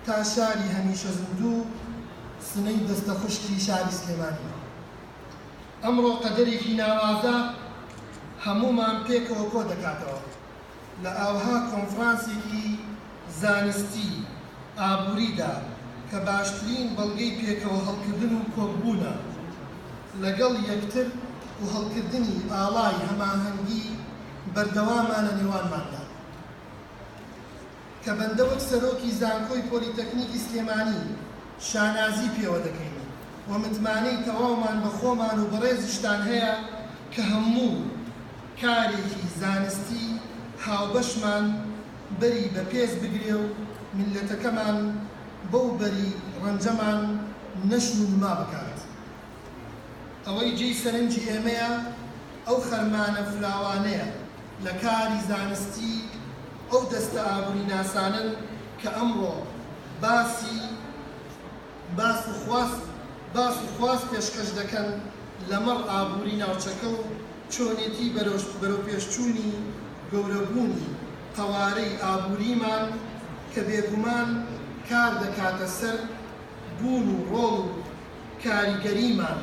تا شاری هەمیشە زیندوو و سنەی دەستە خوشکی شاری سلێمانی. ئەمڕۆ قەدەرێکی ناوازە هەموومان پێکەوە کۆ دەکاتەوە لە ئاوها کۆنفرانسێکی زانستی ئابووریدا کە باشترین بەڵگەی پێکەوە هەڵکردن و کۆکبوونە لەگەڵ یەکتر و هەڵکردنی ئاڵای هەماهەنگی بەردەوامە لە نێوانماندا. کە بەندە وەک سەرۆکی زانکۆی پۆلیتەکنیکی سلێمانی شانازی پێوە دەکەین و متمانەی تەواومان بە خۆمان و بەڕێزیشتان هەیە کە هەموو کارێکی زانستی هاوبەشمان بەری بە پێز بگرێ و میللەتەکەمان بەو بەری ڕەنجەمان نەشو نما بکات. ئەوەی جێی سەرنجی ئێمەیە ئەو خەرمانە فراوانەیە لە کاری زانستی ئەو دەستە ئابووریناسانەن کە ئەمڕۆ باسی باس و خواست باس و خواست پێشکەش دەکەن لەمەڕ ئابووری ناوچەکە و چۆنێتی بەرەو بەرەوپێشچوونی گەورەبوونی قەوارەی ئابووریمان کە بێگومان کار دەکاتە سەر بوون و ڕۆڵ و کاریگەریمان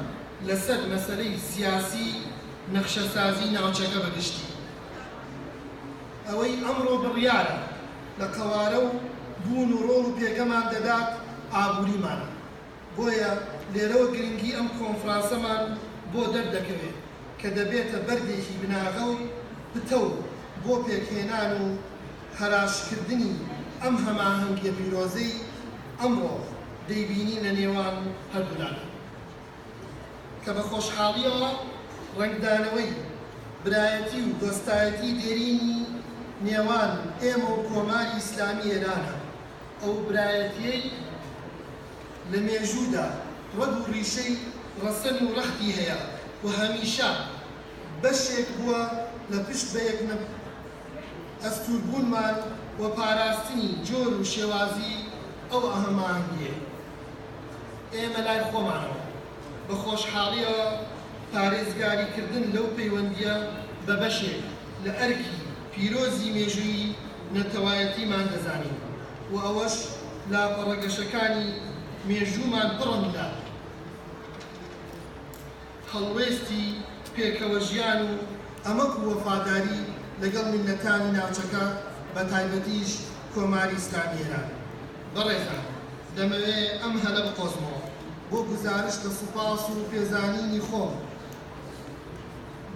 لەسەر مەسەلەی سیاسی نەخشەسازی ناوچەکە بەگشتی. ئەوەی ئەمڕۆ بڕیارە لە قەوارە و بوون و ڕۆڵ و پێگەمان دەدات ئابووریمانە. بۆیە لێرەوە گرنگی ئەم کۆنفرانسەمان بۆ دەردەکەوێت کە دەبێتە بەردێکی بناغە و پتەو بۆ پێکهێنان و هەراشکردنی ئەم هەماهەنگیە پیرۆزەی ئەمڕۆ. دەیبینین لە نێوان هەردوولادا کە بە خۆشحاڵییەوە ڕەنگدانەوەی برایەتی و دۆستایەتی دێرینی نێوان ئێمە و کۆماری ئیسلامی ئێرانە، ئەو برایەتییەی لە مێژوودا ڕەگ و ڕیشەی ڕەسەن و ڕەختی هەیە و هەمیشە بەشێک بووە لە پشت بە یەک ئەستووربوونمان و پاراستنی جۆر و شێوازی ئەو هەماهەنگییەی ئێمە لای خۆمانەوە. بە خۆشحاڵییەوە پارێزگاریکردن لەو پەیوەندییە بە بەشێک لە ئەرکی پیرۆزی مێژوویی نەتەوایەتیمان دەزانین و ئەوەش لاپەڕە گەشەکانی مێژوومان پڕن لە هەڵوێستی پێکەوەژیان و ئەمەک و وەفاداری لەگەڵ میللەتانی ناوچەکە بە تایبەتیش کۆماری ئیسلامی ئێران. بەڕێزان دەمەوێ ئەم هەلە بقۆزمەوە بۆ گوزارشت لە سوپاس و پێزانینی خۆم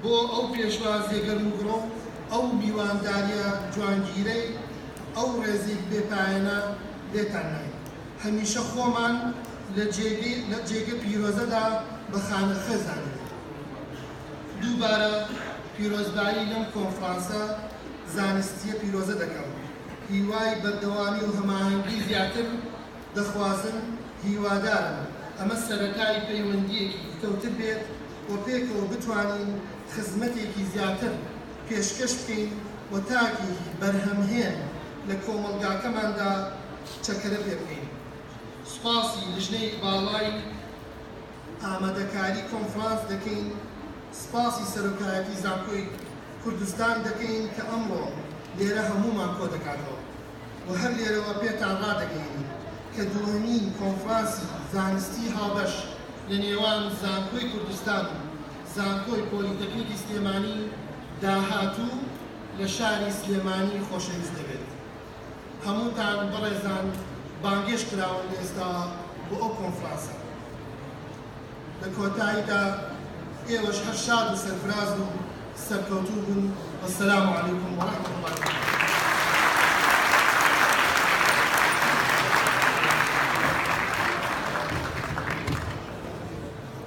بۆ ئەو پێشوازیە گەرموگوڕە و ئەو میوانداریە جوانگیرەی ئەو ڕێزیک بێ پایەنە لێتان ناین. هەمیشە خۆمان لە جێگەی لە جێگە پیرۆزەدا بە خانەخوێ زانیوین. دووبارە پیرۆزبایی لەم کۆنفرانسە زانستییە پیرۆزە دەکەم. هیوای بەردەوامی و هەماهەنگی زیاتر دەخوازم. هیوادارم ئەمە سەرەتای پەیوەندییەکی پتەوتر بێت و پێکەوە بتوانین خزمەتێکی زیاتر پێشکەش بکەین و تاکێکی بەرهەمهێن لە کۆمەڵگاکەماندا چەکەرە پێ بکەین. سوپاسی لژنەی باڵای ئامادەکاری کۆنفرانس دەکەین، سوپاسی سەرۆکایەتی زانکۆی کوردستان دەکەین کە ئەمڕۆ لێرە هەموومان کۆدەکاتەوە و هەر لێرەوە پێتان ڕادەگەیەنین کە دووهەمین کۆنفرانسی زانستی هاوبەش لە نێوان زانکۆی کوردستان و زانکۆی پۆلیتەکنیکی سلێمانی داهاتوو لە شاری سلێمانی خۆشەویست دەبێت. هەمووتان بەڕێزان بانگێشت کراون ئێستا بۆ ئەو کۆنفرانسە لە کۆتایدا ئێوەش هەر شاد و سەرفراز و سەرکەوتوو بن والسلام علیکم ورحمة الله وبرکاته.